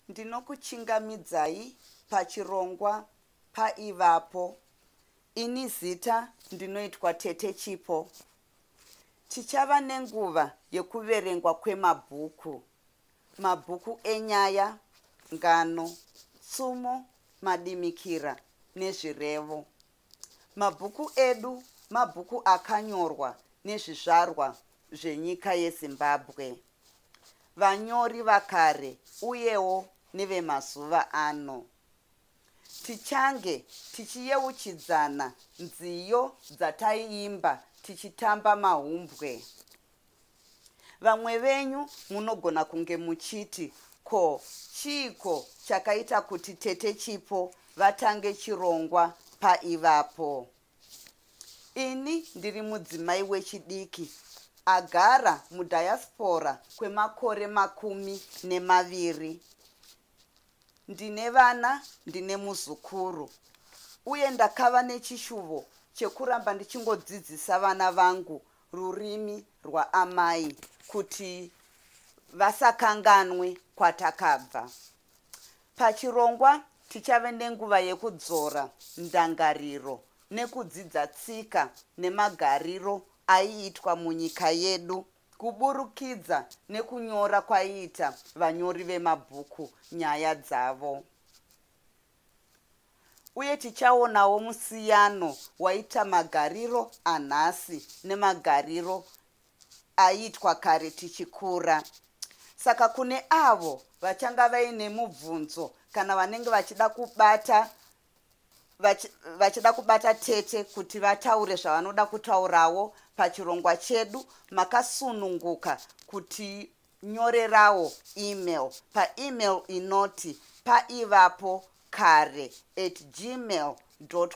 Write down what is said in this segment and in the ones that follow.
ndinokuchingamidzai pachirongwa paivapo ini zita ndinoitwa tete chipo tichava nenguva yekuverengwa kwemabhuku mabhuku enyaya ngano tsumo madimikira nezvirevo Mabhuku edu mabhuku akanyorwa nezvizvarwa zvenyika yeZimbabwe, vanyori vakare uyewo nevemazuva ano. Tichange tichiyeuchidzana nziyo dzataiimba tichitamba mahumbwe. Vamwe venyu munogona kunge muchiti ko chiiko chakaita kuti tete Chipo vatange chirongwa paivapo. Ini ndiri mudzimai wechidiki agara mudiaspora kwemakore makumi nemaviri. Ndine vana, ndine muzukuru uye ndakava nechishuvo chekuramba ndichingodzidzisa vana vangu rurimi rwaamai kuti vasakanganwe kwatakabva. Pachirongwa tichave nenguva yekudzora ndangariro nekudzidza tsika nemagariro aiitwa munyika yedu kuburukidza nekunyora kwaiita vanyori vemabhuku nyaya dzavo. uye tichaonawo musiyano waita magariro anhasi nemagariro aiitwa kare tichikura saka kune avo vachanga vaine mubvunzo kana vanenge vachida kubata vachida kubata tete kuti vataure zvavanoda kutaurawo pachirongwa chedu makasununguka kuti nyorerawo email paemail inoti paivapo kare at gmail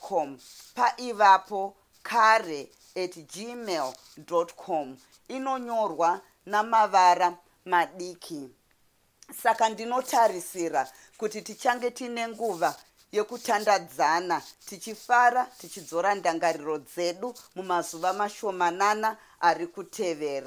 com paivapo kare at gmail com inonyorwa namavara madiki saka ndinotarisira kuti tichange tiine nguva yekutandadzana tichifara tichidzora ndangariro dzedu mumazuva mashomanana ari kutevera